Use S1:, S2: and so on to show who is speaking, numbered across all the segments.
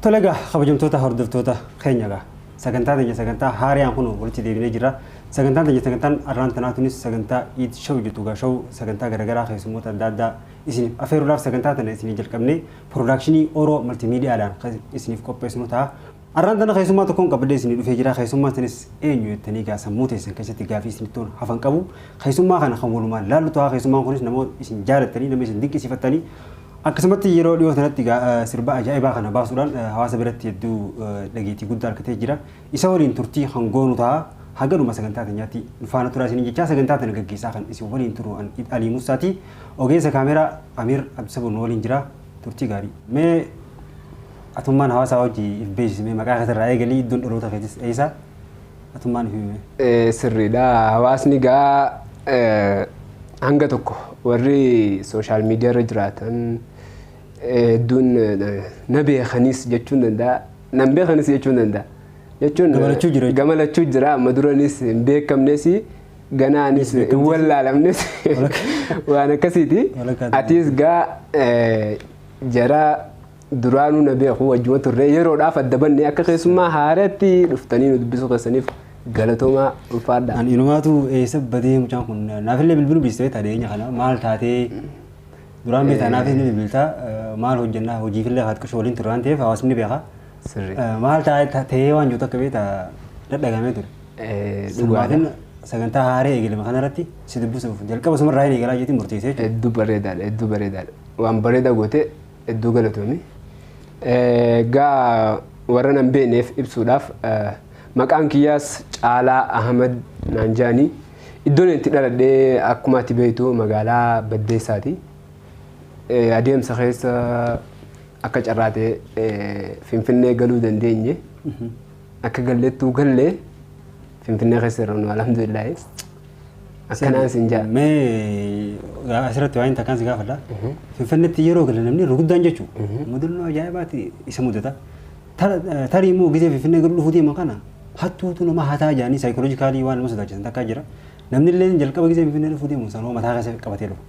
S1: Tole egaa kabajamtoota hordoftoota keenya egaa sagantaa teenya sagantaa haariyaan kun walitti deebinee jirra. Sagantaan teenya sagantaan arraan tanaa tunis sagantaa iid shaw jettu egaa shaw sagantaa garaagaraa keessummoota adda addaa isiniif afeeruudhaaf sagantaa tana isinii jalqabnee piroodakshinii Oro Maltiimiidiyaadhaan kan isiniif qopheessinu ta'a. Arraan tana keessummaa tokkoon qabadhee isinii dhufee jira. Keessummaan sanis eenyu jettanii gaa sammuu teessan keessatti gaafii isinitti oolu hafan qabu. Keessummaa kana kan walumaan laallu ta'a. Keessummaan kunis nama isin jaalattanii, nama isin dinqisiifattanii akkasumatti yeroo dhiyoo sanatti gaa eh, sirba ajaa'ibaa kana baasuudhaan eh, hawaasa biratti hedduu eh, dhageettii guddaa argatee jira. Isa waliin turtii kan goonu ta'a. Haga dhuma sagantaa teenyaatti nu faana turaa isiniin jechaa sagantaa tana gaggeessaa kan isin waliin turu an Id Alii Musaati. Ogeessa kaameeraa Amiir Abdisabur nu waliin jira. Turtii gaarii. Mee Atummaan hawaasaa wajji if beeksisi mee maqaa keetirraa eegalii iddoon dhaloota keetis eessa atummaan himi mee. Sirriidha
S2: hawaasni gaa hanga tokko warri sooshaal miidiyaarra jiraatan hedduun na beekanis jechuun danda'a nan beekanis jechuun danda'a jechuun Gamalachuu jira jechuudha. gamalachuu jira amma duranis hin beekamnes ganaanis hin beekamtes. wallaalamnes Walakkaa. waan akkasiiti Walakkaa ta'e. atiis gaa jara Duraanuu na beeku wajjuma turre yeroodhaaf adda banne akka keessummaa haaraatti dhuftanii nu dubbisuu keessaniif galatoomaa ulfaadha. Ani inumaatu
S1: eessa badee mucaan kun naafillee bilbiluu dhiistee tadeenya kana maal taatee duraan beektaa naafis ni bilbiltaa eh, maal hojjannaa hojiifillee haat qishoo waliin turre waan ta'eef hawaasni ni beeka. Sirrii. Eh, Maal taa'ee ta'ee waan jirtu akka beektaa dadhagamee ture. Eh, Dhugaadha. Sirmaatiin sagantaa haaree eegalame kanarratti si dubbisuuf jalqaba sumarraa hin eegalaa jeetiin murteessee jechuudha. Hedduu bareedaadha hedduu
S2: bareedaadha. Waan bareedaa gootee Hedduu galatoomi. Egaa warra nan beekneef ibsuudhaaf maqaan kiyyaas Caalaa Ahmad naan jedhani. Iddoon itti dhaladhe akkuma ati beektu magaalaa Baddeessaati. Adeemsa keessa akka carraa ta'e Finfinnee galuu dandeenye. Akka gallettuu galle Finfinnee keessa irra nu alhamdulillaahi. Akkanaan sin ja'a. Mee
S1: gaa- asirratti waa'een takkaan si gaafadha. Finfinneetti yeroo galan namni ruguddaan jechuun mudannoo ajaa'ibaati isa mudata. Tar- eh, Tarii immoo gisee Finfinnee gara dhufuu deeman kana hattuutu nama hataa jedhanii saayikooloojikaalii waan nama sodaachisan takkaa jira. Namni illee jalqaba gisee Finfinnee dhufuu deeman sanoo mataa keessa qabatee dhufa.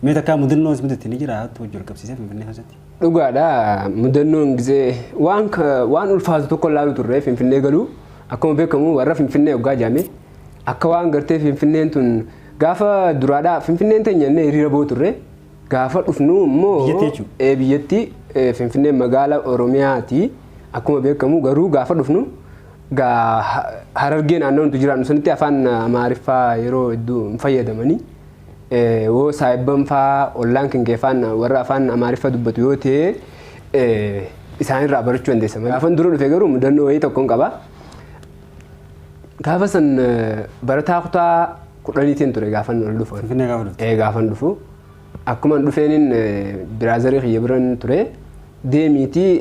S1: Mee takkaa mudannoo si mudatti ni jira hattuu wajjin wal qabsiisee Finfinnee keessatti. Dhugaadha
S2: mudannoon gisee waan ka- waan ulfaatu tokko ilaalu turre Finfinnee galuu akkuma beekamu warra Finfinnee hoggaa jaame Akka waan gartee Finfinneen tun gaafa duraadhaa Finfinneen teenya jennee hiriira boo turre gaafa dhufnu immoo Biyyattii jechuudha. ee, biyyattii ee, Finfinneen magaala Oromiyaati akkuma beekamu garuu gaafa dhufnu gaa ha- harargee naannoo nuti jiraannu sanitti afaan amaariffaa yeroo hedduu hin fayyadamanii ee, woo saayibban faa ollaan keenya afaan warra afaan amaariffaa dubbatu yoo ta'e ee, isaanirraa barachuu dandeessa. Gaafan dura dhufe garuu mudannoo wayii tokkon qaba. Gaafa san barataa kutaa kudhaniitiin ture gaafan ol dhufu. Finfinnee gaafa dhufte. Ee gaafan
S1: dhufu.
S2: Akkuman dhufeenin biraazarii kiyya biran ture deemiitii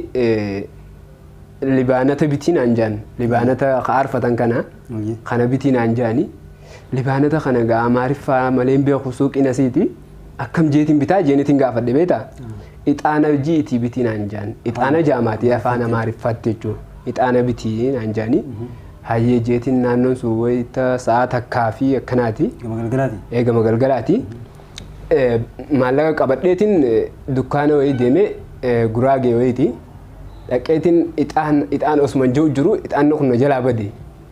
S2: libaanata bitii naan jaan libaanata ka aarfatan kana kana bitii naan jaani libaanata kana gaa amaariffaa maleen beeku suuqiin asiiti. akkam jeetiin bitaa jeenitiin gaafadhe beeta ixaana hojii itii bitii naan jaan ixaana jaamaatii afaan amaariffaatti jechuun ixaana bitii naan jaanii hayyee jeetiin naannoon sun wayita sa'a takkaa fi akkanaati Gama galgalaati. eegama galgalaati Eh, maallaqa qabadheetiin eh, dukkaana wayii deemee eh, guraagee wayiiti dhaqeetiin ixaan ixaan osuma jiru jiru ixaanni kun na jalaa bade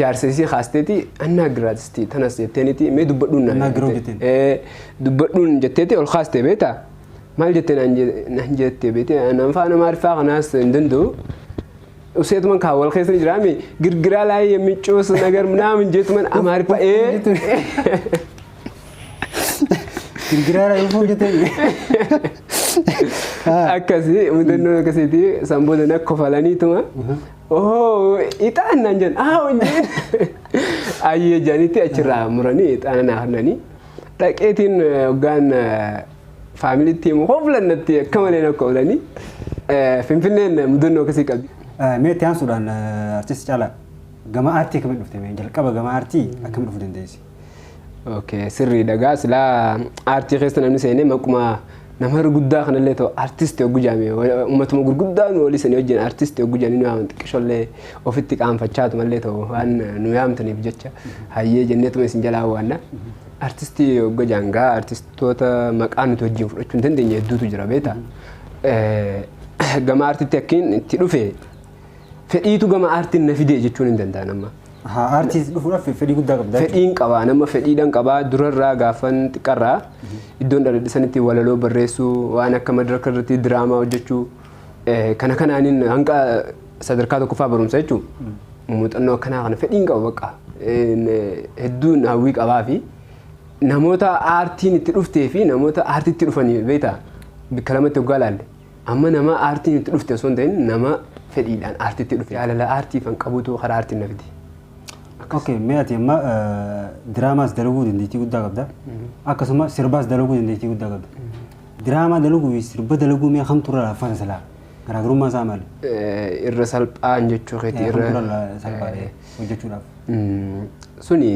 S2: Jaarsa isii kaasteeti annaa giraatisti tanas jetteeniti mee dubbadhuun naan Annaa giroo jette. jetteen. Ee, dubbadhuun jetteeti ol kaaste beeta maal jette naan je- naan jette beete anaan faana maariffaa kanaas hin danda'u useetuman kaa wal keessa ni jiraami girgiraa laayee micuus nagar naamin jeetuman amaariffaa ee
S1: Girgiraara dhufuun jettee.
S2: akkasii mudannoo akkasiiti san booda na kofalaniituma Oo ixaan naan jedhan haa hojjeen ayyee jedhanitti achirraa muranii ixaana naa hannanii dhaqeetiin hoggaan faamiliitti himu hoflannatti akka malee na koolanii finfinneen
S1: mudannoo
S2: akkasii qabdi. Mee itti
S1: aansuudhaan
S2: artisti
S1: caalaa gama aartii akkamitti dhufte mee jalqaba gama aartii akkamitti dhufuu dandeessi? Okay,
S2: sirriidha gaa silaa aartii keessa namni seenee maquma nama guddaa kanallee ta'u artisti oggu jaame uummatuma gurguddaa nu olii sanii wajjin artisti oggu jaanii nu yaaman xiqqishollee ofitti qaanfachaatu mallee ta'u waan nu yaamtaniif jecha hayyee jenneetuma isin jalaa waanna. Artisti ogga jaangaa artistoota maqaa nuti wajjin fudhachuu hin dandeenye hedduutu jira beektaa. Gama artitti akkiin itti dhufe fedhiitu gama aartiin na fide jechuun hin danda'an amma. Haa aartiis dhufuudhaaf
S1: fedhii guddaa qabda. Fedhiin qabaa nama
S2: fedhiidhaan qabaa durarraa gaafan xiqqarraa iddoon dhaladhisanitti walaloo barreessuu waan akka madaraka irratti diraamaa hojjechuu kana kanaanin hanga sadarkaa tokkoffaa barumsa jechuun muuxannoo akkanaa kana fedhiin qaba bakka hedduun hawwii qabaa fi namoota aartiin itti dhuftee fi namoota aartiitti dhufanii beektaa bikka lamatti hoggaa laalle. Amma nama aartiin itti dhufte osoo hin ta'in nama fedhiidhaan aartiitti dhufe. Jaalala aartiifan qabutu karaa aartiin na fide. Akkas. Okay,
S1: mee ati amma eh, diraamaas dalaguu dandeettii guddaa qabda. Akkasuma sirbaas dalaguu dandeettii guddaa qabda. Diraamaa dalaguu fi sirba dalaguu mee kamtu irra laaffata silaa? Garaagarummaa isaa maali? Eh, Irra
S2: salphaan jechuu keeti Eh, irra. Kamtu irra la- salphaadha eh,
S1: hojjechuudhaaf? Mm,
S2: Suni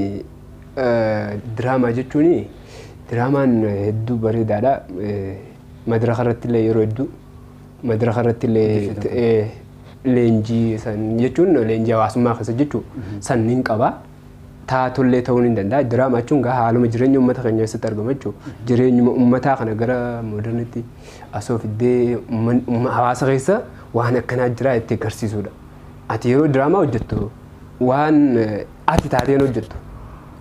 S2: eh, diraamaa jechuun diraamaan hedduu bareedaadha. Eh, Madraka irrattillee yeroo hedduu madraka irrattillee Hojjechuu ta'u. ta'ee leenjii san jechuun leenjii hawaasummaa keessa jechuu san nin qaba. Taatollee ta'uu nin danda'a. Diraama jechuun gaa haaluma jireenya uummata keenya keessatti argama jechuu jireenyuma uummataa kana gara moodernitti asoo fiddee uumman- uumma- hawaasa keessa waan akkanaa jiraa itti agarsiisuudha. Ati yeroo diraamaa hojjettu waan eh, ati taateen hojjettu.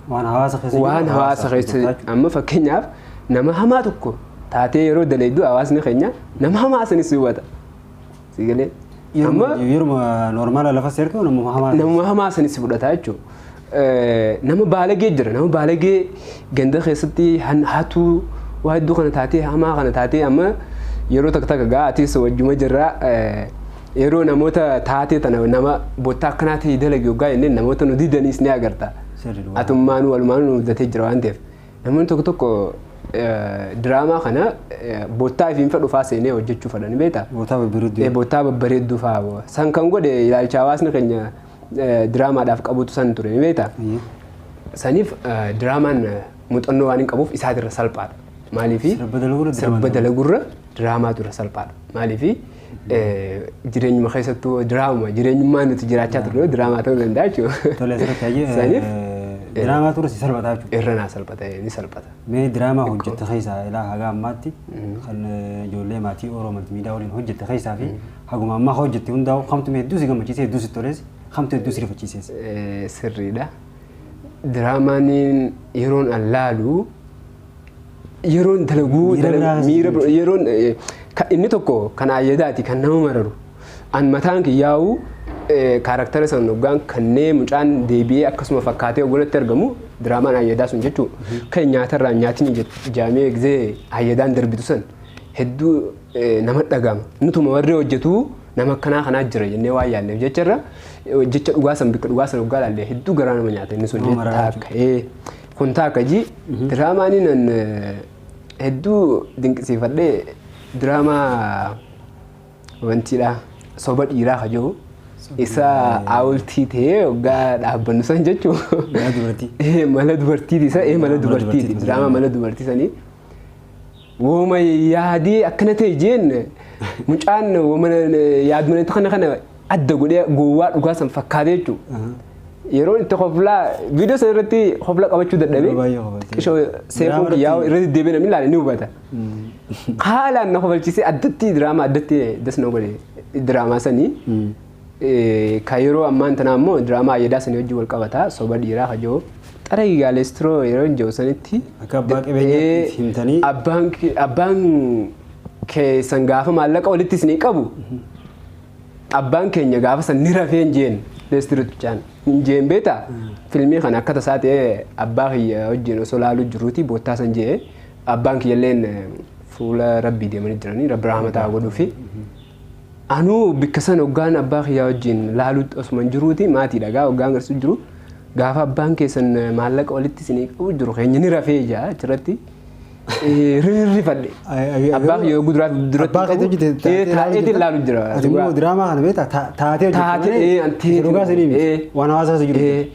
S2: Waan hawaasa
S1: keessa jiru. Waan hawaasa
S2: keessa hojjetaa amma fakkeenyaaf nama hamaa tokko taatee yeroo daleeddu hawaasni keenya nama hamaa sanis hubata. Si galee? jiru. Amma Yeruma-
S1: Yeruma normaala lafa seertu namuma hamaa. nama hamaa
S2: sanis fudhata jechuudha. Eh, Nama baalagee jira. Nama baalagee ganda keessatti han- hatuu waa hedduu kana taatee hamaa kana taatee amma yeroo takka takka gaa atis wajjuma jirra. eh, Yeroo namoota taatee tana nama bottaa akkanaa ta'e dalagi hoggaa jenneen namoota nu didaniis ni agarta. Sirri dhugaa. Atummaanuu walumaanuu nu mudatee jira waan ta'eef. Namoonni tokko tokko eh, diraamaa kana eh, bottaa ifiinfa dhufaa seenee hojjechuu fadha ni beektaa? Bootaa babbareedduu. Eh, bottaa babbareedduu fa'aa boo. San kan godhe ilaalcha hawaasni keenya eh, diraamaadhaaf qabutu san ture ni beektaa? Eeyyee. Saniif eh, diraamaan eh, muuxannoo waan hin qabuuf isaatirra salphaadha. Maaliifi? Sirba dalagurra diraamaa Sirba dalagurra diraamaatu irra salphaadha. Maaliifi? Jireenyuma keessattuu diraama jireenyummaa nuti jiraachaa turre diraamaa ta'uu danda'a jechuudha. Tole asirratti hayyee Saniif diraamaa turre
S1: si salphataa jechuudha. irra naa salphata ni
S2: salphata. Mee diraamaa hojjette
S1: keessaa ilaa haga ammaatti kan eh, ijoollee maatii Oromoo Maltimiidiyaa waliin hojjette keessaa fi haguma ammaa hojjette hundaa'u kamtu mee hedduu si gammachiise hedduu si tolees kamtu hedduu si rifachiisees. Eh, sirriidha.
S2: Diraamaan yeroon allaalu Yeroon dalaguu Miira dala- biraa miira keessa bir- yeroon eh, ka- inni tokko kan ayyadaati kan nama mararu an mataan kiyyaa'u eh, kaaraktara san hoggaan kannee mucaan deebi'ee akkasuma fakkaatee hogganatti argamu diraamaan ayyadaa sun jechuu kan nyaatarraa nyaatni jaamee egzee ayyadaan darbitu san hedduu eh, nama dhagama nutuma warri hojjetu nama akkanaa kanaa jira jennee waan yaadneef jecharra eh, jecha dhugaa san bakka dhugaa san hoggaa ilaalle hedduu garaa nama nyaata inni sun Nama maraa jetta akka. Eh, Kun taakka ji diraamaanii nan hedduu dinqisiifadhe diraamaa wantiidha soba dhiiraa ka jiru isa aawultii ta'ee waggaa dhaabbannu san jechuu Mala dubartii. mala dubartiiti isa ee mala Mala dubartiiti dubartiiti, diraamaa mala dubartii sanii Wooma yaadee akkana ta'e jeen mucaan wooma yaadmanatti kana kana adda godhee gowwaa dhugaa san fakkaatee jechuudha. Aha. Yeroon itti koflaa viidiyoo sana irratti kofla qabachuu Yeroo dadhabee baay'ee kofaltee. xishoo Diraamaa seefuun irratti yaa'u hin- irra deddeebiin namni ilaale ni hubata. Haalaan na kofalchiisee addatti diraamaa addatti das na godhe diraamaa sanii. Ka yeroo ammaan tanaa immoo diraamaa ayyadaa sanii wajjin wal qabata soba dhiiraa ka jiru xaragi gaalestiroo yeroo hin jiru sanitti Akka abbaa qabeenyaatti itti himtanii. abbaan ke- abbaan keessan gaafa maallaqa walitti isinii qabu abbaan keenya gaafa san ni rafee hin jeen leestiroot bichaan hin jeen beeta filmii kana akka tasaa ta'ee abbaa kiyya wajjin osoo laaluu jiruuti boottaa san jee abbaan kiyyalleen fuula rabbii deemanii jiranii rabbi rahmataa godhuufi Anuu bikka san oggaan abbaa kiyyaa wajjiin laaluutti osuman jiruuti maatiidha gaa oggaan garsu jiru gaafa abbaan keessan maallaqa walitti isinii qabu jiru keenya ni rafee jaa achirratti rirrifadhe abbaa kiyya yoo guduraaf duratti Abbaa keetii hojjete taatee taa'eetiin laalu jira. Ati immoo diraamaa kana
S1: beektaa taatee hojjete Taatee, malee eh, antee dhugaa sanii miti. eh. Waan hawaasaa keessa jiru. Eh,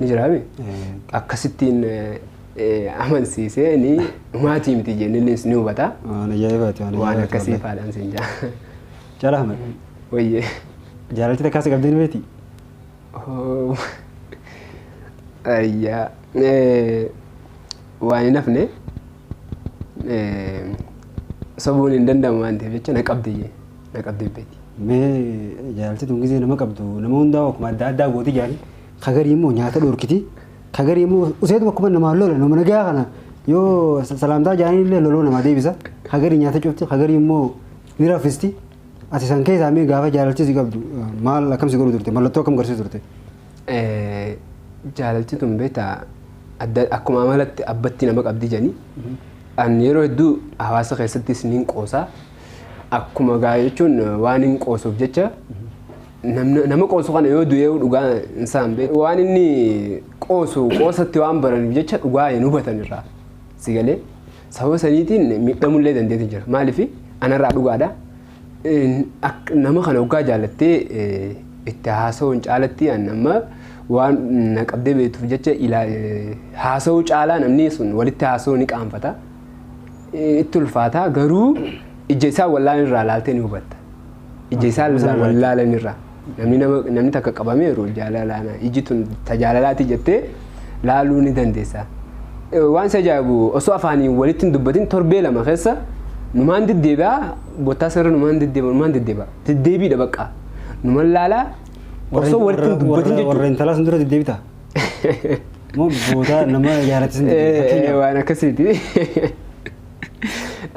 S2: ni jiraame akkasittiin amansiisee ni maatii miti jennees ni hubata. Waan ajaa'ibaati waan Waan ajaa'ibaati akkasii wallahi. faadhaan siin jaa. Jaalaa Ahmed
S1: Wayyee.
S2: jaalalti
S1: takkaa si qabdee ni beekti? Oh.
S2: Ayyaa. Eh, Waan hin hafne eh, sobuun hin danda'amu waan ta'eef jecha na qabdi jee. na qabdee beeti. Mee
S1: jaartii tun gizee nama qabdu nama hundaa akkuma adda addaa gooti jaani. Ka garii immoo nyaata dhorkiti. Ka garii immoo useetu akkuma namaa lola nama nagaa kana yoo salaamtaa jaanii illee loloo namaa deebisa. Ka garii nyaata cufti ka garii immoo ni raffisti. Ati san keessaa mee gaafa jaalaltii si qabdu maal akkam si godhu turte mallattoo akkam garsiisu turte.
S2: Jaalaltii tun beektaa adda akkuma amalatti abbatti nama qabdi jani. An yeroo hedduu hawaasa keessattis niin qoosaa. Akkuma gaa jechuun waan hin qoosuuf jecha namna- nama qoosu kana yoo du'ee dhugaa hin saan beeku. Waan inni qoosu qoosatti waan baraniif jecha dhugaa hin hubatan irraa si galee sababa saniitiin miidhamullee dandeetti jira. Maaliif anarraa dhugaadha. Een, ak- Nama kana hoggaa jaalattee eh, itti haasa'uun caalatti an amma waan na qabdee beektuuf jecha ilaa- eh, haasa'uu caalaa namni sun walitti haasa'uu ni qaanfata. itti ulfaata garuu ija isaa wallaalan irraa laaltee ni hubatta. Ija isaa wallaalan irraa. Namni takka qabamee yeroo jaalalaan iji tun tajaalalaati jettee laaluu ni dandeessa. Waan isa ajaa'ibu osoo afaaniin walitti hin dubbatin torbee lama keessa numaan deddeebi'a bottaa sarara numaan deddeebi'a numaan deddeebi'a deddeebiidha baqqaa numan laalaa osoo walitti hin dubbatin jechuudha. Warra intalaas dura deddeebita.
S1: Moo boodaa nama yaaratis hin jirre Eh, fakkeenyaaf. waan akkasiiti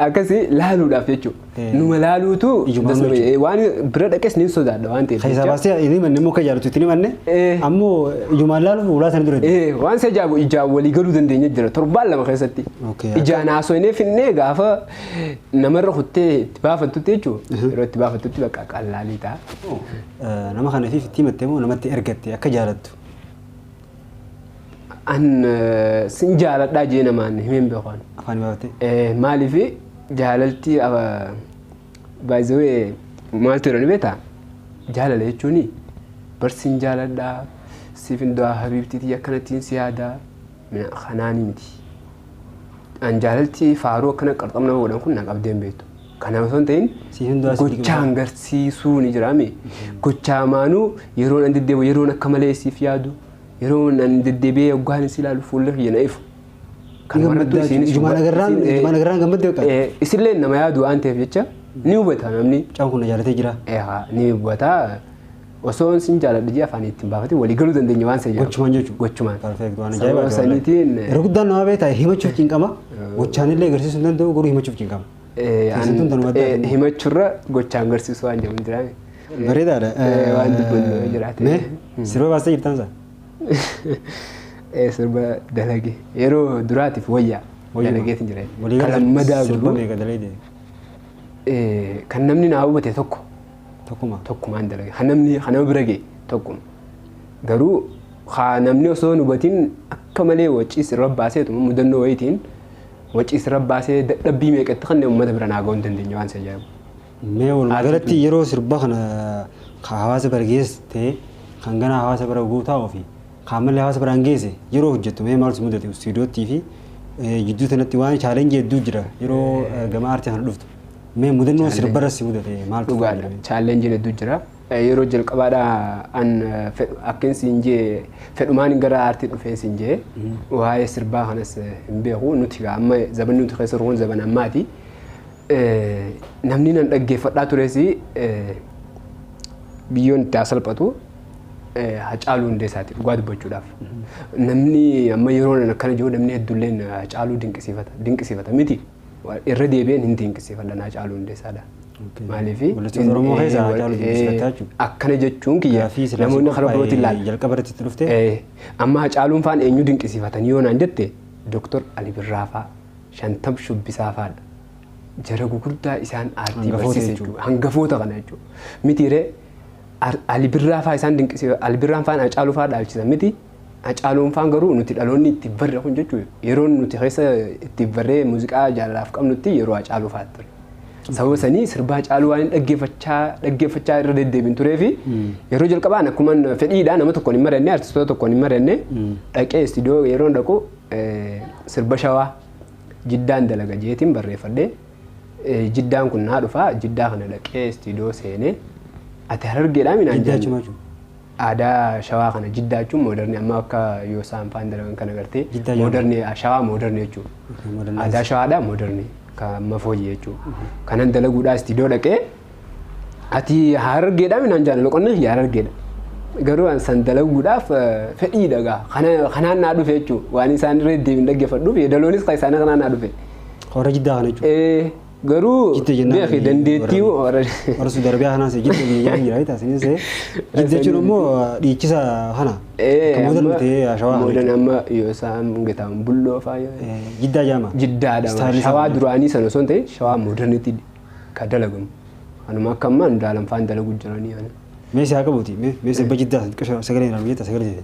S2: akkasi laaluudhaaf jechuudha Eh. numa laaluutu Iyyuma dasuma- jechuudha. eh, waan bira dhaqes ni sodaadha waan ta'eef Keessaa jecha. baastee hin himanne immoo
S1: kan jaalatu itti hin himanne Eh. ammoo ijumaan laaluuf ulaa sana dura deema. Eh, waan isa ijaabu ijaan
S2: walii galuu dandeenya jira torbaan lama keessatti Okay, akka- ijaan haasofnee finnee gaafa namarra kuttee itti baafattutti jechuudha yeroo itti baafattutti bakka qallaalii ta'a Eh, Nama
S1: kanafiif itti himatte moo namatti ergatte akka jaalattu.
S2: An eh, sin jaaladhaa jee namaan himeen beekaan. Afaan baate. Eh,
S1: Maaliif
S2: jaalalti baay'ee maaltu jedhani beektaa? Jaalala jechuun bar sin jaaladhaa siif hin du'aa habiibtiitii akkanattiin si yaadaa mina kanaanii miti. An jaalalti faaruu akkana qarxam nama godhan kun na qabdeen beektu. Kanaaf osoo hin ta'in Siif hin duraa siif gochaa gibaa. hangarsiisuu ni jiraame. Gochaa maanuu yeroon an deddeebi'u yeroon akka malee siif yaadu yeroon an deddeebi'ee oggaan si ilaalu fuulli kiyya na ifu. Kan Ijumaan barattu
S1: isiinis ijumaan huba- agarraan- isin- eh, ijumaan agarraan gammadde bakka. eh, Isillee nama yaadu
S2: waan ta'eef jecha ni hubata namni. Mucaan kun na jaalatee jira.
S1: Ehaa ni hubata.
S2: Osoo sin jaaladhu jee afaan ittiin baafate walii galuu dandeenya waan seeyyama. Gochumaan jechuudha. Gochumaan.
S1: Perfect waan Sababa
S2: ajaa'ibaa.
S1: saniitiin Yeroo
S2: guddaan nama beektaa
S1: himachuuf cinqama. Gochaanillee agarsiisuu hin danda'u garuu himachuuf cinqama. Keessattuu tan waddaa Eh, fi- Himachurra
S2: gochaan garsiisuu waan jedhamu jira. Bareedaadha. Eh,
S1: waan dubbannu
S2: yoo jiraate. Mee sirba baastee jirtaan
S1: isaa? Eh,
S2: Sirba dalage yeroo duraatiif wayyaa Wayyuma. dalageetiin jira. Walii Kan galatti lammadaa sirba godhu
S1: meeqa dalaydee? eh,
S2: kan namni naa hubate tokko Tokkuma.
S1: tokkumaan dalage kan namni
S2: kan nama bira ga'e tokkuma. Garuu haa namni osoo hin hubatiin akka malee waciis irra baaseetu mudannoo wayitiin Wacii sirra baasee dadhabbii meeqa itti kenne ummata bira naa ga'uu hin dandeenye waan si ajaa'ibu. Mee walumaa
S1: galatti yeroo sirba kana ka hawaasa bira geesse ta'ee kan ganaa hawaasa bira ga'uu taa'uu fi ka ammallee hawaasa biraan geesse yeroo hojjettu mee maal si mudate istuudiyoottii fi jidduu sanatti waan chaalenjii hedduu jira yeroo gama aartii kana dhuftu mee mudannoo sirbarra si mudate maaltu Dhugaadha. Chaalenjiin
S2: hedduu jira. Yeroo jalqabaadha an fedhu akkin siin jee fedhumaanin gara aartii dhufeen siin jee waa'ee sirbaa kanas hin beeku nuti gaa amma zabanni nuti keessa ruun zaban ammaati namni nan dhaggeeffadhaa tureesi biyyoon itti hasalphatu hacaaluu hundeessaati dhugaa dubbachuudhaaf namni amma yeroo nan akkana jiru namni hedduulleen hacaaluu dinqisiifata dinqisiifata miti. Wa- Irra deebi'een hin dinqisiifadha naa caaluu hundeessaadha. Okay. Maaliif? Weellistoota Oromoo keessa
S1: Haa Caaluu dinqisiifatta jechuudha. Akkana jechuun kiyya
S2: Gaaffii silaa namoonni si karaa birootiin qophaa'e ilaala. jalqaba irratti itti dhufte? Eh,
S1: Amma Haa Caaluun
S2: faan eenyu dinqisiifatanii yoo naan jette Dooktor Ali Birraa faa, Shantam Shubbisaa faadha. Jara gugurdaa isaan aartii Hangafoota barsiise jechuudha. jechuudha. Hangafoota kana jechuudha. Miti ree Ali Birraa faa isaan dinqisiifatan, Ali Birraan faan Haa Caaluu faa dhaalchisan miti. Hacaaluun faan garuu nuti dhaloonni itti barre kun jechuun yeroon nuti keessa itti barree muuziqaa jaalalaaf qabnutti yeroo Hacaaluu faati ture. Sababa sanii sirbaa Hacaaluu waan hin dhaggeeffachaa dhaggeeffachaa irra deddeebiin turee fi yeroo jalqabaan akkuma fedhiidha nama tokkoon hin mari'anne artistoota tokkoon hin mari'anne dhaqee istiidiyoo yeroon dhaqu eh, sirba shawaa jiddaan dalaga jeetiin barreeffadhe Eh, jiddaan kun naa dhufa jiddaa kana dhaqee istiidiyoo seenee ati harargeedhaa minaan Jiddaa jenne. Chumaa Chumaa. Aadaa shawaa kana jiddaa jechuun moodarni amma akka yoosaan faan dalagan kana gartee Jiddaa jedhama. moodarni shawaa moodarni jechuudha. Okay, modernized. Aadaa shawaadha moodarni kan amma fooyyee jechuudha. Kanan dalaguudhaa istiidoo dhaqee ati harargeedhaa minaan jaalala loqonna kiyya harargeedha. Garuu an san dalaguudhaaf eh, fedhii dhagaa kana kanaan naa dhufe jechuudha. Waan isaan irra deebiin dhaggeeffadhuuf yeedaloonis kan isaanii kanaan naa dhufe. Warra jiddaa kana
S1: jechuudha. Eh, Garuu Jidda
S2: jennaan beeki ani dandeettii warra- moo warra Warra Suudi
S1: Arabiyaa kanaas jidda biyya jedhan jira jechuudha. Isinis ta'e jidda jechuun immoo dhiichisa kana. Ee, Kan moodan amma- miti ashawaa kana. moodan amma yoo
S2: isaan gataan bulloo faa yoo Eh, Jiddaa jaama.
S1: jiddaadha Istaayilii isaa shawaa kana.
S2: duraanii sana osoo hin ta'in shawaa moodarnitti kan dalagamu anuma akka ammaa hundaalan faan dalagu jiranii ani Mee si haa qabuuti. Mee
S1: mee sirba jiddaa xiqqoo sagalee hin argu jechuudha sagalee.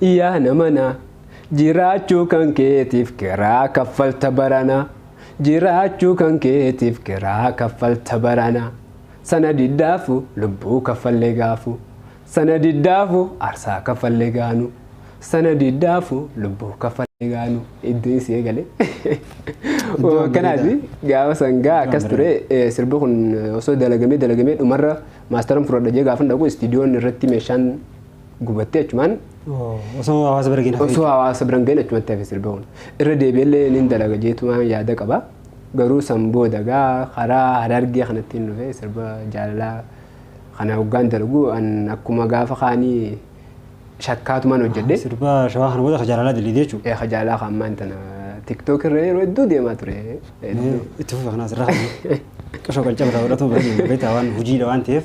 S2: Yaa namana jiraachuu kan keetiif kiraa kaffalta barana jiraachuu kan keetiif kiraa kaffalta barana sana diddaafu lubbuu kaffalle gaafu sana diddaafu arsaa kaffalle gaanu sana diddaafu lubbuu kaffalle gaanu iddoon si eegale Iddoon kanaati bareedaa. gaafa sangaa Iddoon akkas ture eh, sirbi kun osoo dalagamee dalagamee dhumarra maastaran fudhadha jee gaafan dhaqu istiidiyoon irratti meeshaan gubattee achumaan Osoo
S1: hawaasa bira geenaa osoo hawaasa biran ga'in
S2: achumatti hafe sirba kun. Irra deebi'ellee nin dalaga jeetumaan yaada qaba. Garuu san booda gaa karaa harargee kanatti hin dhufe sirba jaalalaa kana hoggaan dalagu an akkuma gaafa kaanii shakkaatumaan hojjedhe. Sirba shawaa kana booda
S1: ka jaalalaa dalaydee jechuudha. Eeka jaalalaa kan ammaan tana
S2: tiktook irra yeroo hedduu deemaa ture. Hedduu. Itti
S1: fufa kanaas irraa qashoo qancaba irraa godhatu bira deema beektaa waan hojiidha waan ta'eef.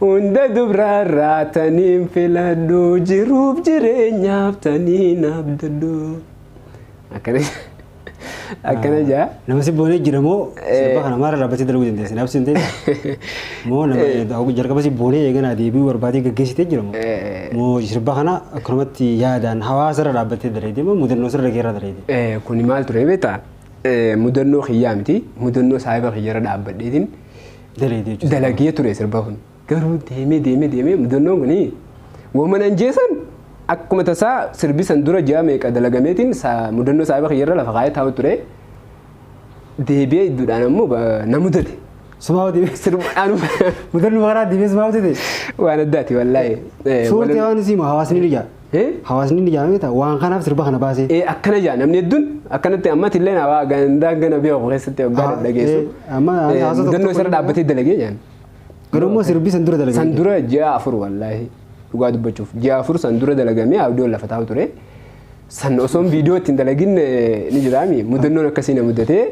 S2: Hunda dubraarraa taniin filadhu jiruuf jireenyaaf taniin abdadhu. Akkana akkana jaa. Nama si boonee jira moo
S1: sirba kana maara dhaabbatee dalaguu dandeessa? Naaf sin ta'e moo nama jalqaba si boonee eeganaa deebi'uu barbaadee gaggeessitee jira moo? Moo sirba kana akkanumatti yaadaan hawaasa irra dhaabbattee daleedee moo mudannoo sirra keerra daleedee? Eh, kuni maal ture beektaa?
S2: Eh, mudannoo kiyyaa miti. Mudannoo saahiba kiyyarra dhaabbadheetiin Daleedee jechuudha. dalagee ture sirba kun garuu deemee deemee deemee mudannoon kun waman anjeesan akkuma tasaa sirbi san dura ji'a meeqa dalagameetiin saa- mudannoo saahiba kiyyarra lafa kaa'ee taa'u ture deebi'ee idduudhaan ammoo ba- na mudate Sumaa hojii.
S1: sirbaadhaan Mudannu maraa diimees maa hojjete. waan addaati
S2: wallaahi. Eh, Suurtee walan- waan
S1: isiima hawaasni ni jaa. Ee hawaasni ni jaame ta'a waan kanaaf sirba kana baasee. Ee akkana jaa namni hedduun
S2: akkanatti ammatti illee naa waa gandaa gana biyya koo keessatti waggaa Ah, dhaggeessu. ee, amma ani hawaasa tokko Mudannoo tokko isarra dhaabbatee dalagee jaan. Garuu immoo sirbi
S1: san dura dalagee. San dura ji'a afur
S2: wallaahi dhugaa dubbachuuf ji'a afur san dura dalagamee abdoon lafa taa'u ture. San osoon viidiyoo ittiin dalagin eh, ni jiraami mudannoon akkasii na mudatee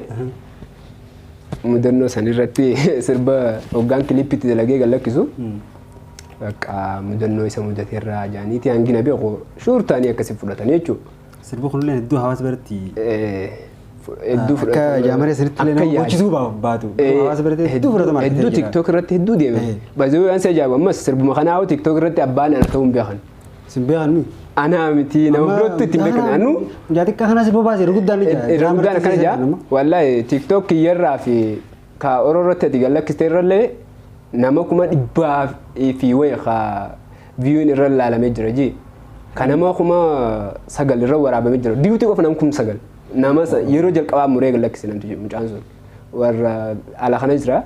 S2: mudannoo san irratti sirba hoggaan kiliippitti dalagee gallakkisu. Bakka mudannoo isa mudate irraa jaaniiti hangi na beeku shuur ta'anii
S1: akkasi
S2: fudhatan
S1: jechuudha.
S2: Sirbi
S1: kunillee
S2: hedduu hawaasa
S1: biratti Hedduu akka jaamaree sanitti illee nama goochisuu baa- baatu. Hawaasa biratti hedduu fudhatama argatee Hedduu jira. tiktok irratti hedduu
S2: deeme. Eh. Baay'ee waan si ajaa'ibu ammas sirbuma kanaa hoo tiktok irratti abbaan ana ta'uu hin beekan. Sin beekan mi?
S1: Anaa miti nama
S2: birootti itti hin beekan. Anuu Mucaa xiqqaa kanas bobaa
S1: seera guddaan ni jira. irra guddaan akkana jira.
S2: Wallaahi tiktok kiyyarraa fi Ka oro irratti ati gad lakkiste irrallee nama kuma dhibbaa fi wayi ka viewin irra ilaalamee jira ji. Ka nama kuma sagal irra waraabamee jira. Diyuutii qofa nam kum sagal. Nama sa- yeroo jalqabaa muree gad lakkise namti jedhu mucaan sun. Warra ala kana jira.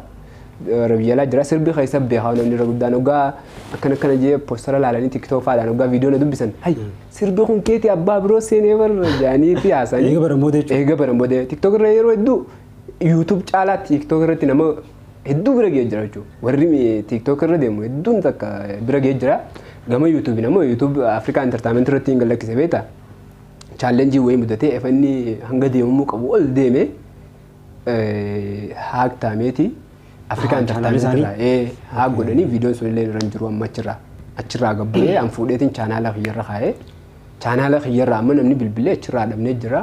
S2: Warra biyya alaa jira. Sirbi keessa beekaa namni irra guddaan hoggaa akkana akkana jee postara ilaalanii tiktok faadhaan hoggaa viidiyoo na dubbisan. Hay sirbi kun keeti abbaa biroo seenee barra jaanii fi haasanii. Eega baran booda jechuudha. Eega
S1: baran booda tiktok
S2: irra yeroo hedduu YouTube caalaa TikTok irratti nama hedduu bira ga'ee jira jechuudha. Warri TikTok irra deemu hedduun takka bira ga'ee jira. Gama YouTube nama YouTube Afrikaa Entertainment irratti hin gallakkise beektaa? Chaallenjii wayii mudatee efa inni hanga deemamuu qabu ol deeme haak taameeti Afrikaa Entertainment irraa haak godhanii viidiyoon sun illee irra hin jiru amma achirraa achirraa gabbu'ee an fuudheetiin chaanaala kiyyarra kaa'ee chaanaala kiyyarra amma namni bilbilee achirraa dhabnee jira.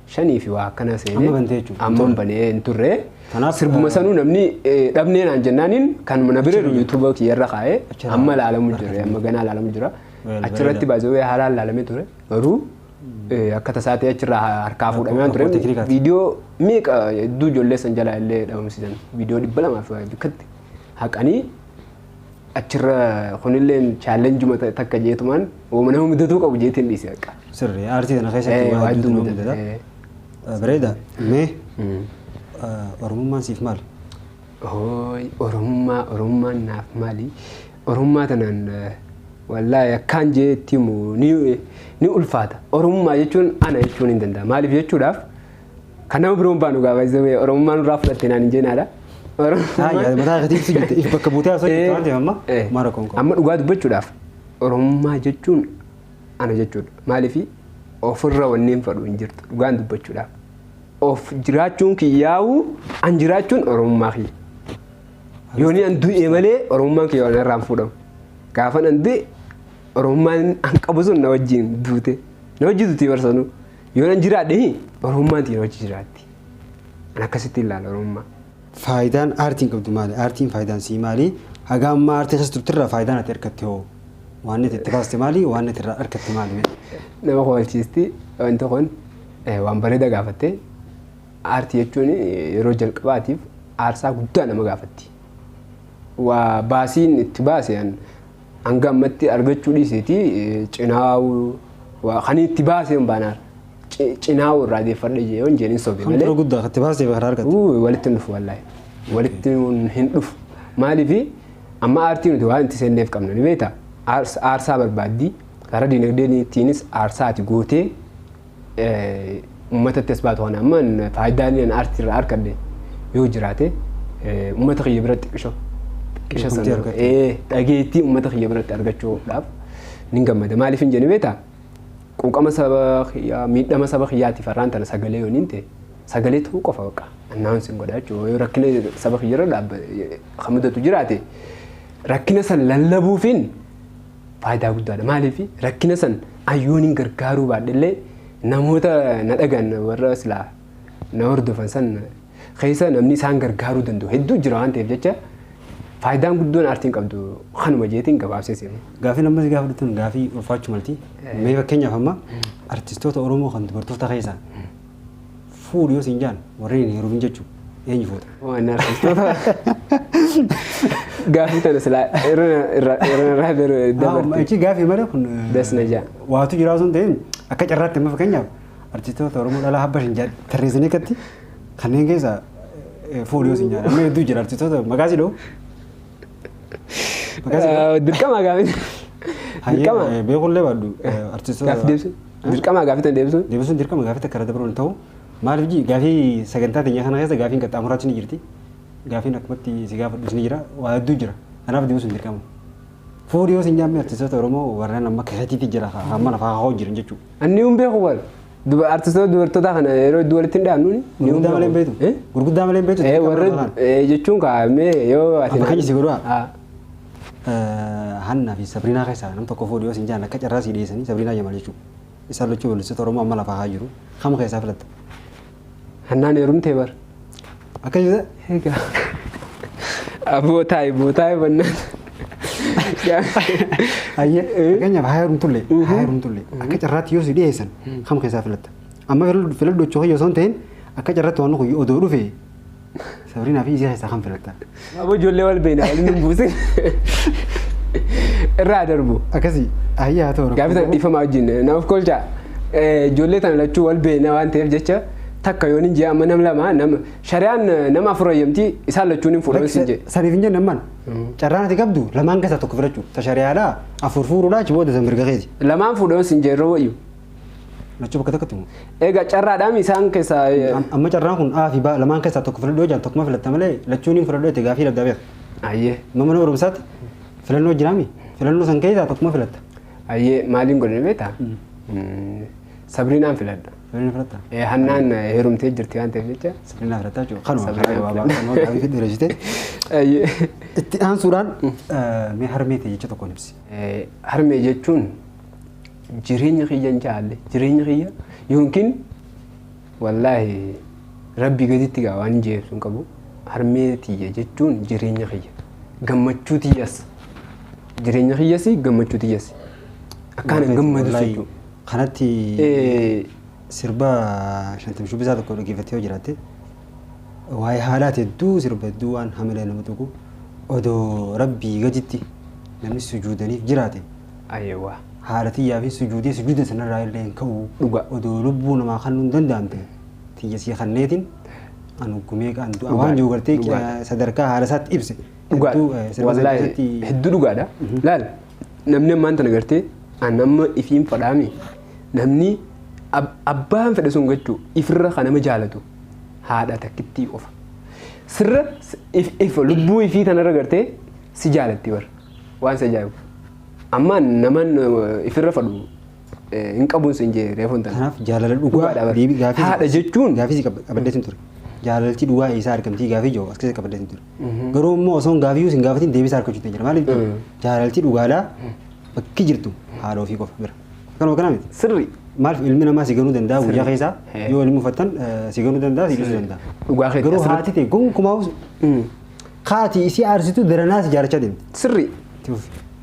S2: shanii fi waa akkanaa Amma seenee bantee jechuudha. amma hin
S1: banee hin turre
S2: Kanaaf, sirbuma eh, sanuu namni eh, dhabnee naan jennaaniin kan na bira jiru yuutuuba kiyyarra kaa'ee Achirraa amma ilaalamu jira argatan. amma ganaa ilaalamu jira Well, achirratti bareeda. baazawee haalaan ilaalamee ture garuu eh, akka tasaa ta'e achirraa harkaa fuudhamee waan ture Rakkoo teknikaati. viidiyoo meeqa hedduu ijoollee san jalaa illee dhabamsiisan viidiyoo dhibba lamaa fi waa bikkatti haqanii achirra kunilleen chaallenjuma ta- takka jeetumaan woma nama mudatuu qabu jeetiin dhiise akka. Sirri aartii kana
S1: keessatti Eh, waa waa hedduutu hedduutu nama mudata. mudata. Eh, Bareeda. Mee Mm. eh, Oromummaan siif maali? Hooy, Oromummaa,
S2: Oromummaan naaf maali? Oromummaa tanaan eh, wallaahi akkaan jee itti himu ni, ni ulfaata. Oromummaa jechuun ana jechuun hin danda'a. Maaliif jechuudhaaf Kan nama biroon baanu gaa baay'ee ta'e Oromummaa nurraa fudhatte naan hin jeenaadha. Haa yaa
S1: mataa gatii si jette if bakka buutee haasoo jirtu waan ta'eef amma Eh, maara koon koon. Amma dhugaa dubbachuudhaaf
S2: Oromummaa jechuun ana jechuudha. Maaliif ofirra wanneen fadhu hin jirtu dhugaan dubbachuudhaaf. Of jiraachuun kiyyaa'u an jiraachuun Oromummaa kiyya. Yooni an du'e malee Oromummaan kiyya waan irraan fuudhamu. Gaafan an du'e Oromummaan an qabu sun na wajjin duute. Na wajjin duute barsanuu. Yoo nan jiraadhe Oromummaan xiin hojii jiraatti. An akkasitti ilaala Oromummaa. Faayidaan
S1: aartiin qabdu maali? Aartiin faayidaan sii maali? Haga ammaa aartii keessa turtirraa faayidaan ati argatte hoo? Waan itti baaste maali? Waan itti irraa argatte maali? Nama koolchiisti
S2: wanti kun eh, waan bareeda gaafatte. Aartii jechuun eh, yeroo jalqabaatiif aarsaa guddaa nama gaafatti. Waa baasiin itti baase an Hanga ammatti argachuu dhiiseeti cinaawuu waa kan itti baasee hin baanaar cinaawuu irraa deeffadhe jee yoon jeen hin sobe Kan malee. tura guddaa kan itti baasee kan
S1: argate. Uu, walitti hin dhufu wallaahi.
S2: Walitti hin- hin dhufu. Maaliifi amma aartii nuti waan itti seenneef qabna ni beekta. Aars- Aarsaa barbaaddi. Karaa dinagdeetiinis aarsaa ati gootee uummatatti as baatu kana amma faayidaa inni aartii irraa argadhe yoo jiraate uummata kiyya biratti xiqqisho xiqqisho sana dhageettii uummata kiyya biratti argachuudhaaf nin gammada maaliif hin jenee beektaa quuqama saba kiyyaa miidhama saba kiyyaatiif har'aan tana sagalee yooniin ta'e sagalee ta'uu qofa baqa annaawwan sin godha jechuudha yoo rakkina saba kiyyarra dhaabba kan mudatu jiraate rakkina san lallabuufiin faayidaa guddaadha. Maaliif rakkina san ayyoon hin gargaaruu baadhellee namoota na dhagan warra silaa na hordofan san keessa namni isaan gargaaruu danda'u hedduu jira waan ta'eef jecha faayidaan guddoon aartiin qabdu kanuma jeetiin gabaabsee seenu. Gaafii lammas gaafa dhuftan
S1: gaafii ulfaachuu malti. Mee fakkeenyaaf amma artistoota Oromoo kan dubartoota keessaa fuudhu yoo siin jaan warreen hin heerumin jechuu eenyu fuuta? Waan artistoota
S2: gaafii tana silaa irra irra irra irraa garuu Haa, dabarti. Ichi gaafii malee kun
S1: eh, Das na jaa.
S2: waatu jiraa sun ta'een
S1: akka carraatti amma fakkeenyaaf artistoota Oromoo dhalaa habba shan jedhan tarreessanii akkatti kanneen keessaa eh, fuudhu yoo siin jaan amma hedduu jira artistoota maqaa si dha'u Akkasi
S2: Eh, Dirqama gaafii. Dirqama.
S1: Hayyee beekullee baadhu artistoota. Gaafii deebisuu.
S2: Dirqama gaafii tan deebisuu. Deebisuun dirqama gaafii takka irra
S1: dabaluun ta'u maaliif jii gaafii sagantaa teenya kana keessa gaafiin qaxxaamuraatti ni jirti. Gaafiin akkumatti si gaafadhus ni jira waa hedduu jira kanaaf deebisuun dirqama. Fuudhii yoo si hin jaamme artistoota Oromoo warreen amma keessatti jira hamma lafaa hoo jiran jechuudha. Anni hin beeku bar.
S2: Duba artistoota dubartootaa kana yeroo iddoo walitti hin dhaabnu. Gurguddaa malee hin beektu.
S1: Gurguddaa malee hin beektu. Eh warra
S2: jechuun kaa mee yoo ati. Amma keenya si godhu haa.
S1: Hanna fi Sabriinaa keessaa nam tokko fuudhiyoo sin jaan akka carraa sii dhiyeessanii Sabriinaa Jamaal jechuudha. Isaan lachuu balleessitoota Oromoo amma lafaa haa jiru. Kam keessaa filatta? Hannaan
S2: heerumtee bar. Akka jira.
S1: Egaa.
S2: Aboo taa'i boo taa'i bannaan.
S1: Ayyee fakkeenyaaf haa heerumtullee haa heerumtullee akka carraatti yoo si dhiyeessan kam keessaa filatta. Amma filadhu jechuu kiyya osoo hin ta'in akka carraatti waan kun odoo dhufe Sabrina fi Izee keessaa kan filattan. Aboo ijoollee wal
S2: beekna waliin hin buusin. Irraa darbu. Akkasii ayyaa
S1: ta'u. Gaafii sana dhiifamaa wajjin na
S2: of kolchaa. Ijoollee tana lachuu wal beekna waan ta'eef jecha takka yoon hin jee amma nam lama nama shari'aan nama afur ayyamti isaan lachuun hin fuudhan sin jee. Saniif hin jenne amman.
S1: Carraan ati qabdu lamaan keessaa tokko filachuu. Ta shari'aadhaa afur fuudhuudhaa achi booda san mirga keeti. Lamaan fuudhan sin jee yeroo
S2: wayyu. Lachuu
S1: bakka tokkotti moo? Egaa carraadhaan
S2: isaan keessaa Am- Amma carraan kun
S1: A fi B lamaan keessaa tokko filadhu yoo jedhan tokkuma filatta malee lachuun hin filadhu jette gaafii dhaggaa beeka. ayyee Amma mana
S2: barumsaatti
S1: filannoo jiraami. Filannoo san keessaa tokkuma filatta. ayyee maaliin
S2: godhani beektaa? Mm, Sabriinaan filadha. Filannoo filatta. Eh, Hannaan eh, heerumtee jirti waan ta'eef jecha. Filannoo filatta jechuudha. Kanuma
S1: Sabrina karaa gabaabaa filatta. kanuma gaafii fidhu dheeressite. Ayyee. Itti aansuudhaan eh, mee harmee ta'e jecha tokkoon ibsi. Eh, Harmee
S2: jechuun jireenya kiyya hin caalle jireenya kiyya yookiin wallaahi rabbii gaditti gaa waan hin jeebsu hin qabu harmee tiyya jechuun jireenya kiyya gammachuu tiyyas jireenya kiyyas gammachuu tiyyas akkaan hin gammadu Wallaahi, jechuudha. Kanatti
S1: Eh, sirba shantam shubbisaa tokko dhaggeeffattee yoo jiraatte waa'ee haalaati hedduu sirba hedduu waan hamilee nama tuqu odoo rabbii gaditti namni sujuudaniif jiraate Ayewa.
S2: Haadha tiyyaafi
S1: sujuudee sujuuda sanarraa illee hin ka'u. Dhugaa. Odoo lubbuu
S2: namaa
S1: kannuu hin danda'amte tiyya sii kanneetiin an hoggu meeqaan du'a waan jiru gartee Dhugaadha. Dhugaadha. sadarkaa haadha isaatti ibse. Dhugaadha. Hedduu, eh, sirba sana
S2: Wallaahi keessatti hedduu dhugaadha. Laal namni ammaan tana gartee an amma ifiin fadhaame namni ab- abbaan fedhe sun gachuu ifirra kan nama jaalatu haadha takkittii qofa. Sirra s- if, if lubbuu ifii tanarra gartee si jaalatti bar. Waan si ajaa'ibu. Amma naman ifirra fadhu hin qabuun sin jee reefuun tana. Kanaaf jaalala dhugaa
S1: deebii gaafii haadha jechuun
S2: gaafii qabadhee sin ture.
S1: Jaalalchi dhugaa eessaa argamtii gaafii jiru as keessa qabadhee sin ture. Garuu immoo osoo hin gaafii sin gaafatiin deebii isaa argachuutti jira. Maaliif jaalalchi dhugaadhaa bakki jirtu haadha ofii qofa bira. Kanuma kana miti. Sirri. Maaliif ilmi
S2: namaa si
S1: ganuu danda'a guyyaa keessaa yoo ilmi uffattan si ganuu danda'a si dhiisuu danda'a. Dhugaa keetti Garuu haati
S2: ta'e gonkumaa
S1: Kaati isii aarsitu daranaa si jaarachaa deemti. Sirri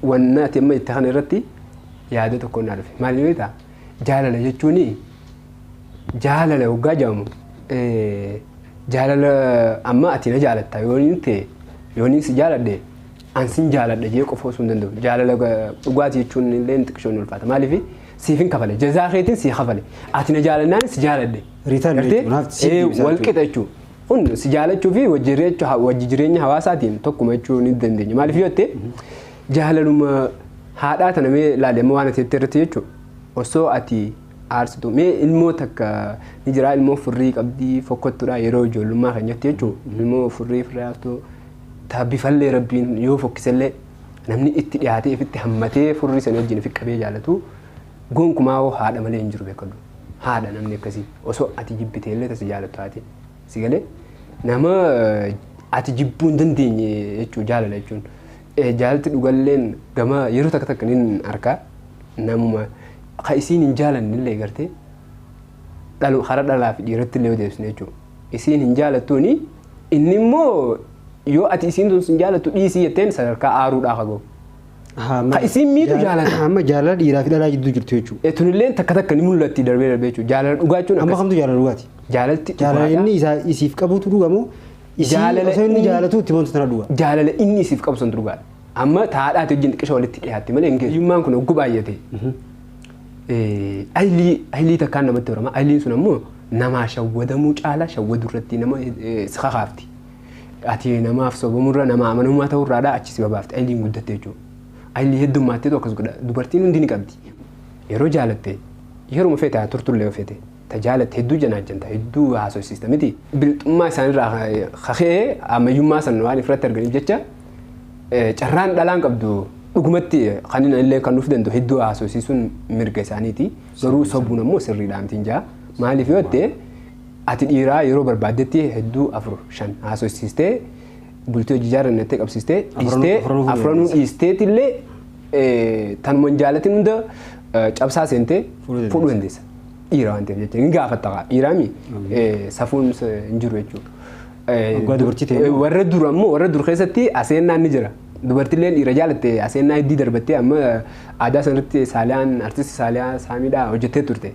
S2: wanna ati amma itti kana irratti yaada tokko naa dhufe. Maal beektaa? Jaalala jechuun jaalala waggaa jedhamu jaalala amma ati na jaalatta yoo inni ta'e yoo inni si jaaladhe an sin jaaladha jee qofa osoo hin danda'u. Jaalala dhugaati jechuun illee xiqqishoon ni ulfaata. Maaliif siif hin kafale jazaa keetiin si kafale ati na jaalannaan si jaaladhe. Ritaan jechuun wal qixa jechuudha. Kun si jaalachuu fi wajji jireechu- ha- wajji jireenya hawaasaatiin tokkuma jechuu ni dandeenya. Maaliif yoo jette jaalaluma haadhaa tana mee ilaali amma waan ati jette irratti jechuudha. Osoo ati aarsitu mee ilmoo takka ni jira ilmoo furrii qabdii fokkottudha yeroo ijoollummaa kan jette jechuudha. Ilmoo furrii furrii haastuu taa bifallee rabbiin yoo fokkisellee namni itti dhiyaatee ifitti hammatee furrii sana wajjin fi qabee jaalatu Gonkumaa hoo haadha malee hin jiru bekkadhu. Haadha namni akkasii osoo ati jibbitee illee ta si jaalattu haati. Si galee? Nama ati jibbuu hin dandeenye jechuu jaalala jechuun. Eh, Jaalti dhugalleen gama yeroo takka takka nin arka namuma ka isiin hin jaalanne illee gartee dhalu kara dhalaa fi dhiiratti illee yoo deebisne jechuudha. Isiin hin jaalattuuni inni immoo yoo ati isiin tun sin jaalattu dhiisii jetteen sadarkaa aaruudhaa ka gahu. Ka isiin miitu jaalata. Amma jaalala dhiiraa fi
S1: dhalaa jidduu jirtu jechuudha. E tunilleen takka takka ni
S2: mul'atti darbee darbee jechuudha. Jaalala dhugaa jechuun Amma akkas. kamtu jaalala dhugaati?
S1: Jaalalti Jaalala dhugaadha.
S2: inni isaa
S1: isiif qabutu dhuga moo? Isii Jaalala osoo inni inni- jaalatu itti himantu tana dhuga. Jaalala inni isiif qabu
S2: sun dhugaadha. Amma taadhaati wajjin xiqqisha walitti dhiyaatti malee hin geessu. Hiyyummaan kun hogguu baay'ate. Eh, Aylii aylii takkaan namatti horama. Ayliin sun ammoo namaa shawwadamuu caalaa shawwaduu irratti nama eh, si kakaafti. Ati namaaf sobamurra nama amanamummaa ta'urraadha achi si babaafte ayliin guddatte jechuudha. Aylii heddummaatteetu akkas godha. Dubartiin hundi ni qabdi. Yeroo jaalatte yeruma feete haa turtullee yoo feete ta jaalatte hedduu janaajjanta hedduu haasofsiista miti. Bilxummaa isaanirraa kaka'ee ammayyummaa san waan ifirratti arganiif jecha carraan dhalaan qabdu dhugumatti kan inni illee kan nuuf danda'u hedduu haasofsiisuun mirga isaaniiti. Garuu sobuun ammoo sirriidhaa mitiin jaa. Maaliif yoo ta'e Ati dhiiraa yeroo barbaaddetti hedduu afur shan haasoysiistee bultii hojii ijaarran jettee qabsiistee dhiistee afranuu fuudhee afranuu deemte. dhiisteet illee eh, tanuma hin jaalatin hunda eh, cabsaa seentee Fuudhuu dandeessa. fuudhuu dandeessa. Dhiira waan ta'eef jecha hin gaafatta kaa dhiiraami eh, safuun s- hin jiru jechuudha. Eh, Dhugaa dubartii ta'e eh, warra dur ammoo warra dur keessatti aseennaan ni jira. Dubartilleen dhiira jaalatte aseennaa heddii darbattee amma aadaa sanarratti saaliyaan artisti saaliyaa saamiidhaa hojjettee turte.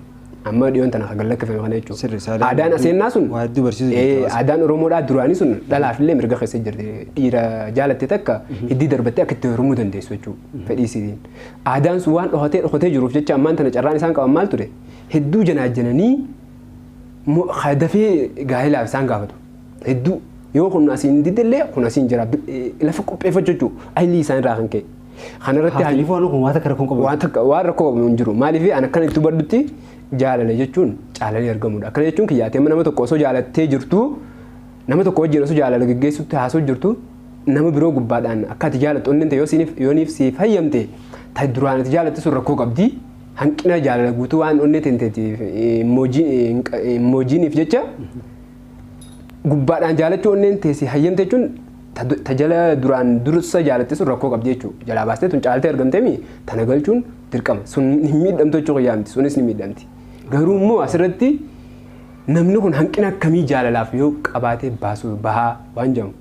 S2: Amma dhiyoon tana kan gallakkifame kana jechuudha. Sirri isaa daa'ima Aadaan aseennaa sun waa hedduu barsiisu ee, jechuudha. aadaan Oromoodhaa duraanii sun dhalaaf illee mirga keessa jirti. Dhiira jaalatte takka hiddii darbattee akka itti heerumuu dandeessu jechuudha. Fedhii isiitiin. Aadaan sun waan dhokatee dhokatee jiruuf jecha ammaan tana carraan isaan qaban maal ture? Hedduu janaajjananii mo- ha- dafee gaa'elaaf isaan gaafatu. Hedduu yoo kun asiin didde illee kun asiin jira. Bi- eh, Lafa qopheeffachuu jechuudha. Aylii isaan irraa kan ka'e. Kana irratti Haati Lifoo anu kun waan takka
S1: rakkoon qabu. waan takka waan rakkoo qabu hin jiru.
S2: Maaliif an akkana itti hubadhutti jaalala jechuun caalanii argamudha. Akkana jechuun kiyya ati amma nama tokko osoo jaalattee jirtu nama tokko wajjin osoo jaalala geggeessutti haasoo jirtu nama biroo gubbaadhaan akka ati jaalattu onneen ta'e yoo siiniif yooniif siif hayyamte ta'i duraan ati jaalatte sun rakkoo qabdi. Hanqina jaalala guutuu waan onnee teenteetiif moojiiniif jecha gubbaadhaan jaalachuu onneen teessi hayyamte jechuun Ta, ta jala duraan dursa jaalatte sun rakkoo qabdi jechuu jalaa baastee tun caaltee argamteemi tana galchuun dirqama sun hin miidhamtu jechuu kiyyaa miti sunis ni miidhamti garuu immoo asirratti namni kun hanqina akkamii jaalalaaf yoo qabaatee baasuu bahaa waan jedhamu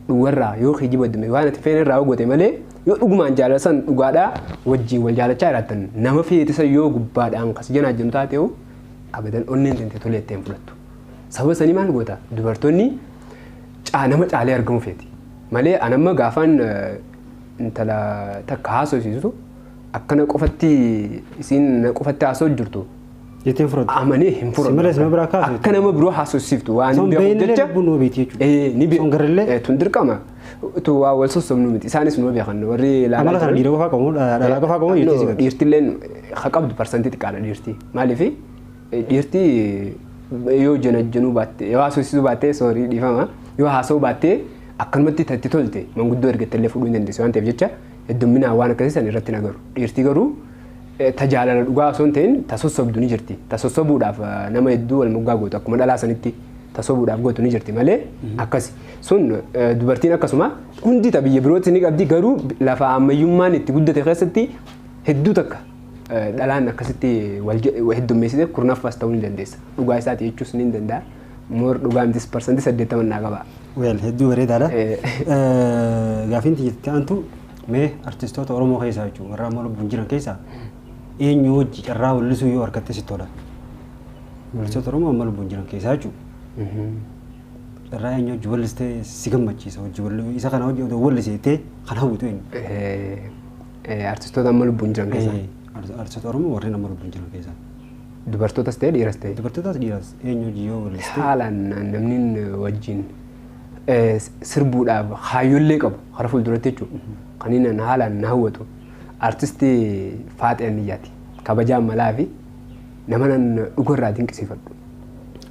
S2: dhugarraa yoo kijiba dume waan ati feene irraa gote malee yoo dhugumaan jaalala san dhugaadhaa wajjiin wal jaalachaa jiraattan nama feetisa yoo gubbaadhaan kas janaa jennu taate hoo abadan onneen tante tolee itti hin fudhattu sababa sanii maal goota dubartoonni caa nama caalee argamu feeti. Malee an amma gaafaan intala takka haasofsiisu akkana qofatti isiin na qofatti haasoo jirtu Jettee hin fudhattu.
S1: amanee hin Si malee
S2: si biraa kaasu. Akka nama biroo haasofsiiftu waan Osoo hin beekuuf beekne jecha lubbuun numa beekti
S1: jechuudha. Eh, ni Osoo hin garrellee. beeku. Eh,
S2: Tun dirqama. Tu waa wal sossobnu miti. Isaanis numa beekan warri ilaalaa Amala kana jiran. dhiira qofaa
S1: qabu, dhalaa qofaa qabu, dhiirtis No, hin qabu. dhiirtilleen ha
S2: qabdu parsantii xiqqaadha dhiirti. Maaliif Dhiirti yoo janajjanuu baatte yoo haasofsiisuu baatte sorry dhiifama yoo haasa'uu baatte akkanumatti tatti tolte manguddoo ergatte illee fuudhuu hin dandeessu waan ta'eef jecha heddumminaan waan akkasii san irratti hin agaru. Dhiirti garuu eh, ta jaalala dhugaa osoo hin ta'in ta sossobdu ni jirti. Ta sossobuudhaaf eh, nama hedduu wal moggaa gootu akkuma dhalaa sanitti ta sobuudhaaf gootu ni jirti malee akkasi. Sun eh, dubartiin akkasuma hundi ta biyya birootti ni qabdi garuu lafa ammayyummaan itti guddate keessatti hedduu takka dhalaan akkasitti wal je- heddummeessite kurnaffaas ta'uu ni dandeessa. Dhugaa isaati jechuus ni danda'a. Moor dhugaa mitis parsantii saddeettaman naa qaba. Weel hedduu bareedaadha.
S1: Eh. Eh, Gaafiin tiyya itti aantu mee artistoota Oromoo keessaa jechuun warra amma lubbuun jiran keessaa eenyu hojii carraa weellisuu yoo argatte sitti tola. Weellistoota Oromoo amma lubbuun jiran keessaa jechuun carraa eenyu hojii weellistee si gammachiisa hojii weellisuu isa kana hojii odoo weelliseettee kan hawwitu eenyu. Eh, Eh, Artistoota
S2: amma lubbuun jiran keessaa. Eh, art- artistoota Oromoo
S1: warreen amma lubbuun jiran keessaa. Dubartootas
S2: ta'e dhiiras ta'e. Dubartootaas dhiiras eenyu
S1: hojii yoo balleessite Haalaan namni
S2: wajjin eh, sirbuudhaaf hayyollee qabu hara fuulduratti jechuudha. Kan inni na- haalaan na hawwatu artistii Faaxee Anniyyaati. Kabajaa malaa fi nama nan dhugarraa dinqisiifadhu.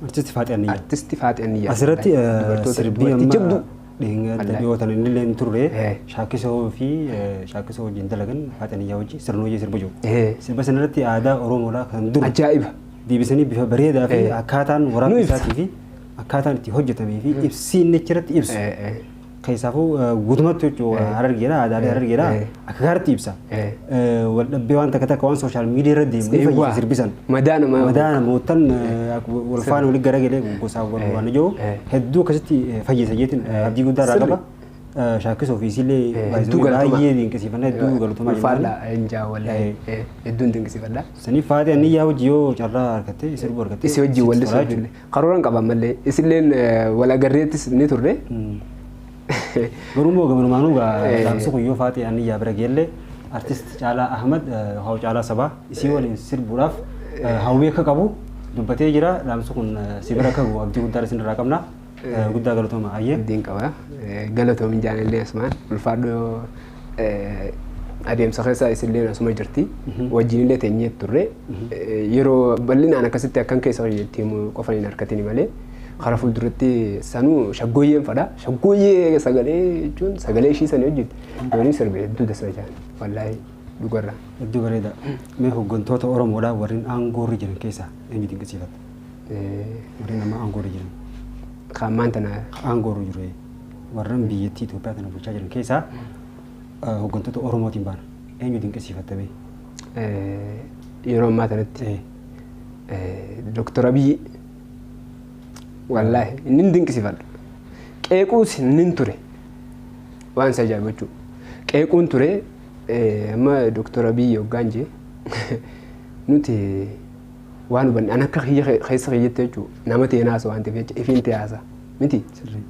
S2: artisti
S1: Faaxee Anniyyaa. Artisti Faaxee Anniyyaa.
S2: Asirratti eh, Dubartoota-
S1: sirbii dubartii amma jabduu. Dhiinga Wallahi. dadhiyoo tan inni illee hin turre Eh. shaakisoo fi eh, shaakisoo wajjin dalagan faaxaniyyaa wajjin sirna hojii sirba jiru. Eh. Sirba sanarratti aadaa Oromoodhaa kan dur Ajaa'iba. deebisanii
S2: bifa
S1: bareedaa fi Eh. akkaataan Nu waraabbii ibsa. isaatii fi akkaataan itti hojjetamee fi ibsiin achirratti ibsu. Eh, eh. Keessaafuu eh, guutumatti jechuudha Eh. harargeedha aadaalee Eh. harargeedha. Eh. Akka gaariitti ibsa. Eh. Eh, Wal dhabbee waan takka takka waan sooshaal miidiyaa irra deemu ni Eewwa. fayyisa sirbisan. Madaa namaa Madaa
S2: namootan
S1: eh, ak- wal faana walitti garagalee gosaa wal Eh. waan ijoo Eh. hedduu akkasitti eh, fayyisa jeetiin Eh. abdii guddaa irraa Sirri. qaba. Eh, Shaakkisoo fi isiillee Eh, baay'isanii hedduu galatoomaa. baay'ee dinqisiifannaa hedduu galatoomaa jennaan. Ulfaadha injaa
S2: wallahi. Eh. Eh, Hedduun dinqisiifadha. Saniif faatee anni yaa
S1: hojii yoo carraa argattee sirbuu argattee. Isi wajjin sitti wallisuu tola jechuudha.
S2: karooraan qaba ammallee isilleen eh, wal agarreettis ni turre Mm. Garuu immoo
S1: gamanumaanuu gaamsi kun yoo faatee ani yaa bira geellee artist Caalaa Ahmad yookaan Caalaa Sabaa isii waliin sirbuudhaaf hawwii akka qabu dubbatee jira. Dhaamsi kun si bira akka gahu abdii guddaan isin irraa qabna. Guddaa galatooma ayyee. Abdiin qaba.
S2: Galatoomi jaalallee Usmaan. Ulfaadhu adeemsa keessa isilleen asuma jirti. Wajjinillee teenyee turre. Yeroo bal'inaan akkasitti akkan keessa hojjetti himu qofa hin harkatini malee karaa fuulduratti sanuu shaggooyyeen fadha. Shaggooyyee sagalee jechuun sagalee ishii sanii hojjetti. Doonii sirbe hedduu dasa jaan. Wallaahi dhugarra. Hedduu bareeda.
S1: Mee hooggantoota Oromoodhaa warreen aangoorri jiran keessaa eenyu dinqisiifatta? Warreen amma aangoorri jiran. Kan ammaan
S2: tana. Aangoorri jiru.
S1: warran biyyattii Itoophiyaa tana bulchaa jiran keessaa eh, hooggantoota Oromootiin baana. Eenyu dinqisiifatta bee? Eh, Yeroo
S2: ammaa kanatti Eh, eh, Dooktar Abiyyi wallaahi inni hin dinqisiifadha. Qeequus inni hin ture waan isa ajaa'ibu jechuudha. Qeequun ture eh, amma Dooktar Abiyyi hoggaan jee nuti waan hubanne an akka kiyya ke- keessa kiyyatti jechuun nama ta'een haasa waan ta'eef jecha ifiin ta'e haasa miti. Sirrii.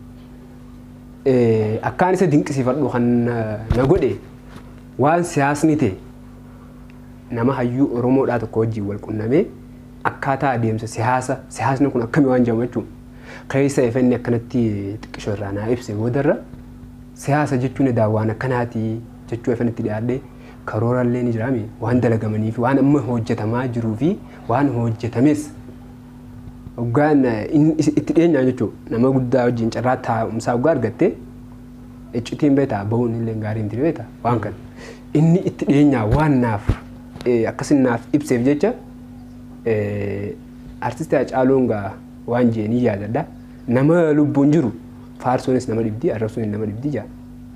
S2: Eh, Akkaan isa dinqisiifadhu kan na na godhe waan siyaasni ta'e nama hayyuu Oromoodhaa tokko wajjin wal qunnamee akkaataa adeemsa siyaasa siyaasni kun akkamii waan jedhamu jechuun keessa ifenni akkanatti xiqqisho irraa naa ibse boodarra siyaasa jechuun edaa waan akkanaati jechuu ifanitti dhiyaadhee karooraallee ni jiraame waan dalagamanii fi waan amma hojjetamaa jiruu fi waan hojjetames hoggaan itti dhiyeenyaa jechuudha nama guddaa wajjin carraa taa'umsaa hoggaa argatte iccitiin beektaa ba'uun illee gaarii miti beektaa waan kana inni itti dhiyeenyaa waan naaf akkasin naaf ibseef jecha artisti Hacaaluun gaa waan jee ni yaadadha nama lubbuun jiru faarsuunis nama dhibdi arrabsuunis nama dhibdi jaa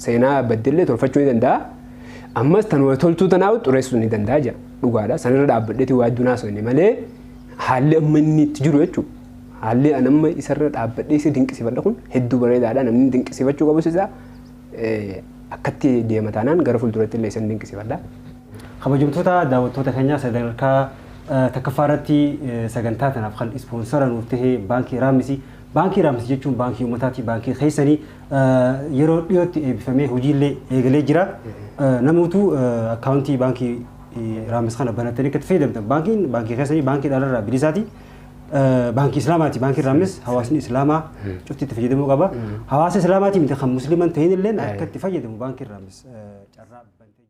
S2: seenaa baddellee tolfachuu ni danda'a Ammas tan waa toltuu tanaa xureessuu ni danda'a jira. Dhugaadha. Sanirra dhaabbadheeti waa hedduun haasofne malee haalli amma inni itti jiru jechuudha. Haalli an amma isarra dhaabbadhee isa dinqisifadha kun hedduu bareedaadha. Namni dinqisifachuu qabus isaa akkatti deema taanaan gara fuulduratti illee isan dinqisifadha. Kabajamtoota
S1: daawwattoota keenyaa sadarkaa takkaffaa irratti sagantaa tanaaf kan ispoonsara nuuf ta'e baankii Raamisi. Baankii Raamisi jechuun baankii ummataati. Baankii keessanii yeroo dhiyootti eebbifamee hojiillee eegalee jira. Namoota akkaawuntii baankii Raammis kana banattanii akka itti fayyadamtan baankiin baankii keessanii baankii dhalarraa bilisaati. Baankii Islaamaati baankiin Raammis hawaasni Islaamaa cufti itti fayyadamuu qaba. Hawaasa Islaamaati miti kan musliiman ta'in illee akka itti fayyadamu baankiin Raammis carraa bantee